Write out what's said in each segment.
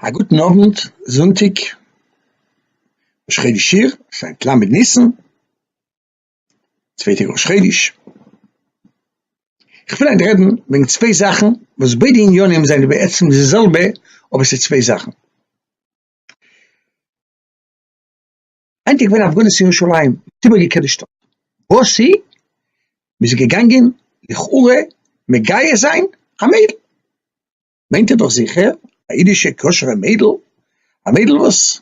א גוטן אוונט, זונטאג ראש חודש אייר, עס איז היינט ל' ניסן, צווייטע ראש חודש, איך וויל היינט רעדן וועגן צוויי זאכן וואס ביידע עניינים זענען בעצם די זעלבע אבער עס איז צוויי זאכן. היינט איז געווען א הפגנות אין ירושלים, מען האט איבערגעקערט די שטאט, וואס איז? מען איז געגאנגען לכאורה מגייס זיין א מיידל, מיינט איר דאך זיכער א אידישע כשר'ע מיידל, א מיידל וואס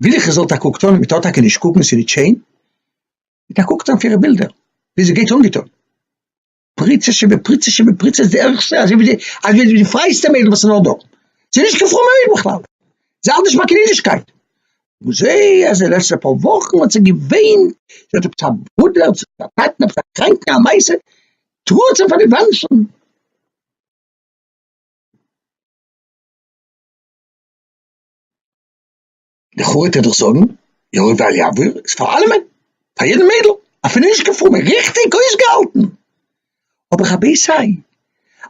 וויל איך עס זאל טאקע קוקט אן, מען טאר טאקע נישט קוקן, ס'איז נישט שיין, מען טאר קוקט אן אויף אירע בילדער ווי זי גייט אנגעטון. פריצה שבפריצה שבפריצה איז די ערגסטע, אזוי ווי די, אזוי ווי די פרייסטע מיידל וואס איז נאר דא, זי איז נישט קיין פרומע מיידל בכלל, זי האלט נישט ביי קיין אידישקייט, און זי אז די לעצטע פאר וואכן האט זי געוויינט, זי האט עפעס א ברודער צו א טאטן עפעס א קראנקן א מעשה, טראגט זיי פאר די וואנצן. לכאורה טאר דאך זאגן יאיר ואל יעבור איז פאר אלעמען, פאר יעדן מיידל, אפילו נישט קיין פרומע, ריכטיג אויסגעהאלטן. אבער רבי סיי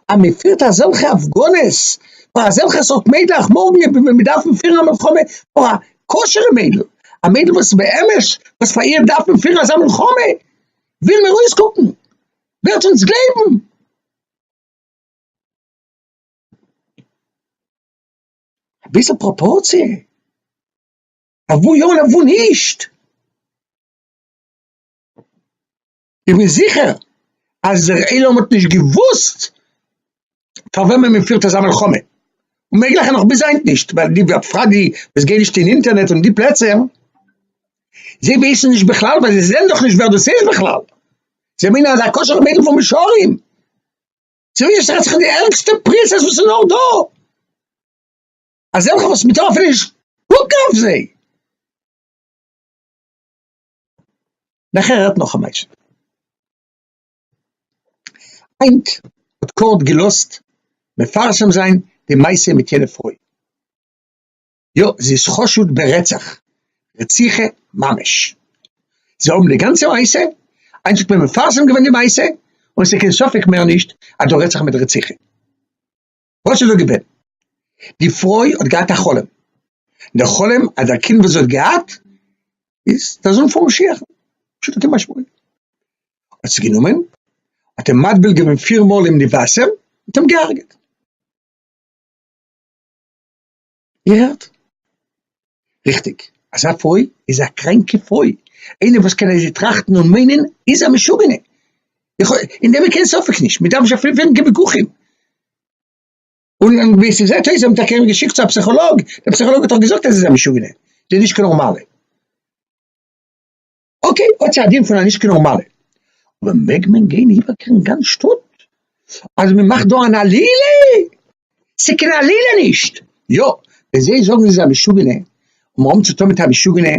אז מען פירט אזעלכע הפגנות פאר אזעלכע סארט מיידלעך, מארגן וועט מען דארפן פירן א מלחמה פאר א כשר'ע מיידל, א מיידל וואס באמת וואס פאר איר דארף מען פירן אזא מלחמה, ווילן מיר אויסקוקן, ווערט אונז גלייבן. א ביסל פראפארציע, אויף וואו יא און אויף וואו נישט. איך בין זיכער אז דער עולם האט נישט געוואוסט פאר וועמען מען פירט אזא מלחמה, און מעגליך נאך ביז היינט נישט, ווייל די בפרט די וואס גייען נישט אין אינטערנעט און די פלעצער, זיי ווייסן נישט בכלל ווייל זיי זעען דאך נישט ווער דאס איז בכלל, זיי מיינען אז א כשר'ע מיידל פון מישרים. צווישן זיי האט זיך די ערגסטע פריצות וואס איז נאר דא, אזעלכע וואס מ'טאר אפילו נישט קוקן אויף זיי. נאכער האט נאך א מעשה. היינט האט קאורט געלאזט מפרסם זיין די מעשה מיט יענע פרוי. יא זי איז חשוד ברצח, רציחה ממש, זיי האבן די גאנצע מעשה, איינס האט מיר מפרסם געווען די מעשה, און עס איז קיין ספק מער נישט אז דא רעדט זיך מיט רציחה. וואס איז דא געווען? די פרוי האט געהאט א חלום, די חלום אז דער קינד וואס זי האט געהאט איז דער זון פון משיח'ן, פשוטו כמשמעו, האט זי גענומען האט אים מטביל געווען פיר מאל אים די וואסער און אים געהארגעט. געהערט? ריכטיג, אזא פוי איז א קראנקע פוי, איינער וואס קען אזוי טראכטן און מיינען איז א משוגענע, איך האב אין דעם קיין ספק נישט, מ'דארף נישט אפילו פירן קיין וויכוחים, און ווי ס'זעט אויס האבן טאקע אים געשיקט צו א פסיכאלאג, דער פסיכאלאג האט דאך געזאגט אז ער איז א משוגענע, ער איז נישט קיין נארמאלע. אקעי, האט זי א דין פון א נישט קינאו מעלה, אבער מעג מען גיין איבערקערן גאנץ שטאט אז מען מאכט דא אן עלילה? ס'קיין עלילה נישט! יא, ווען זיי זאגן זי איז א משוגענע און מ'האט אום צו טון מיט א משוגענע,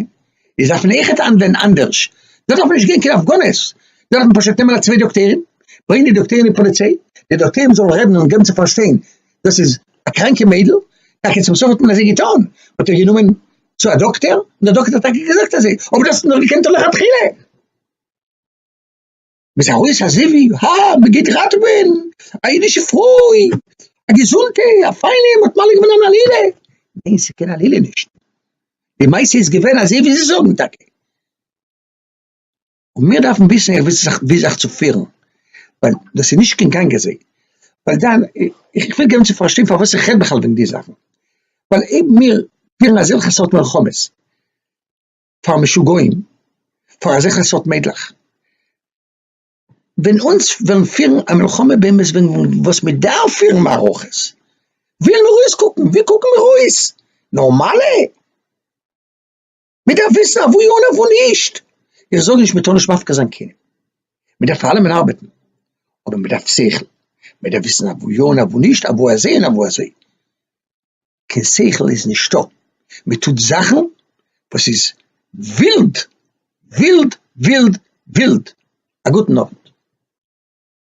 איז דארף מען עכט האנדלען אנדערש, דא דארף מען נישט גיין קיין הפגנות, דא דארף מען פשוט נעמען א צוויי דאקטוירים, ברענגען די דאקטוירים אין פאליציי, די דאקטוירים זאלן רעדן און געבן צו פארשטיין דאס איז א קראנקע מיידל, טאקע צום סוף האט מען אזוי געטון, מ'האט איר גענומען צו א דאקטער, און דער דאקטער האט טאקע געזאגט אזוי, אבער דו האסט אים דאך געקענט דורך התחלה. מ'איז ארויס א זיווג, הא, מ'גייט ראטעווען א אידישע פרוי, א געזונטע, א פיינע, מ'האט מעלה געווען אן עלילה. ניין, ס'איז קיין עלילה נישט. די מעשה איז געווען אזוי ווי זיי זאגן טאקע. און מיר דארפן וויסן איך וויס ווי זיך צו פירן, ווייל דאס איז נישט קיין גאנג אזוי, ווייל דאן איך וויל געבן צו פארשטיין פארוואס איך רעד בכלל וועגן די זאכן, ווייל אויב מיר פירן אזעלכע סארט מלחמות פאר משוגעים, פאר אזעלכע סארט מיידלעך, ווען אונז וועלן פירן א מלחמה באמת וועגן וואס מען דארף פירן מערכות, ווי וועלן מיר אויסקוקן? ווי קוקן מיר אויס? נארמאלע? מען דארף וויסן אוואו יא און אוואו נישט, איך זאג נישט מען טאר נישט מפקיר זיין כלים, מען דארף פאר אלעמען ארבעטן, אבער מען דארף שכל, מען דארף וויסן אוואו יא און אוואו נישט, אוואו אזוי און אוואו אזוי, קיין שכל איז נישטא, מען טוט זאכן וואס איז ווילד, ווילד, ווילד, ווילד, א גוטן אווענט.